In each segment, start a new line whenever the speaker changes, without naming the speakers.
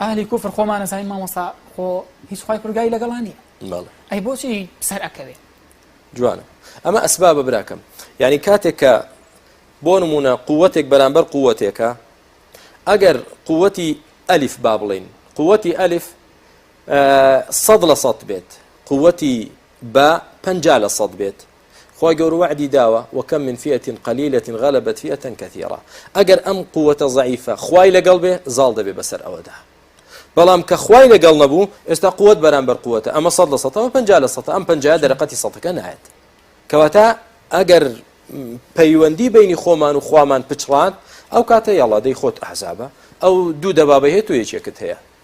ئەهلی کوفر خۆمان ئەزانین مامۆستا خۆ هیچ خوای پرگاری لەگەڵا نییە بەڵێ ئەی بۆچی سەر ئەکەوێ جوانە
ئەمە ئەسبابە براکەم یعنی کاتێک کە بۆ نمونە قووەتێک بەرامبەر قووەتێکە ئەگەر قووەتی ئەلیف با بڵین قووەتی ئەلیف سەد لە سەد بێت قووەتی بە پنج لە سەد بێت خوای گەورە وەعدی داوە وەکەم من فیئە قەلیلە غەلەبەت فیئە کەثیرە ئەگەر ئەم قووەتە زەعیفە خوای لەگەڵ بێ زاڵ دەبێ بەسەر ئەوەدا بەڵام کە خوای لەگەڵ نەبوو ئێستا قوت بەرامبەر قوتە ئەمە سە لە سەەوە پ لە سە ئەم پ دەرەقەتی سەەکە نایەت کەواتە ئەگەر پەیوەندی بینی خۆمان و خوامان پچڕات ئەو کاتە یاڵادەی خۆت ئەحزابە ئەو دوو دەبابە هەیە تو یەکێکت هەیە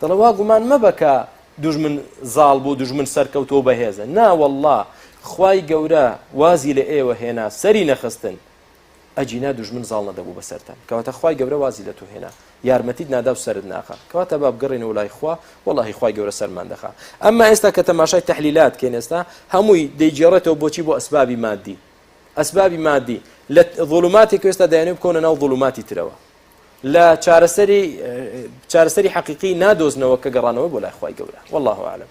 دەڵێ وا گومان مەبە کە دوژمن زاڵ بوو دوژمن سەرکەوتوە و بەهێزە نا واللە خوای گەورە وازی لە ئێوە هێنا سەری نەخستن ئەجینا دوژمن زاڵ نەدەبوو بەسەرتان کەواتە خوای گەورە وازی لە تو هێنا یارمەتیت نادا و سرد ناخا کەواتە با بگەڕێنەوە لای خوا واللهی خوای گەورە سەرمان دەخا ئەمما ئێستا کە تەماشای تحلیلات کەین ئێستا هەمووی دەیگێڕێتەوە بۆچی بۆ ئەسبابی مادی ئەسبابی مادی لە ظلماتێک ئێستا دایانێ بکەونە ناو ظلماتی ترەوە لە چارەسەری چارەسەری حەقیقی نادۆزنەوە کە گەڕانەوە بۆ لای خوای گەورە واللە اعلم.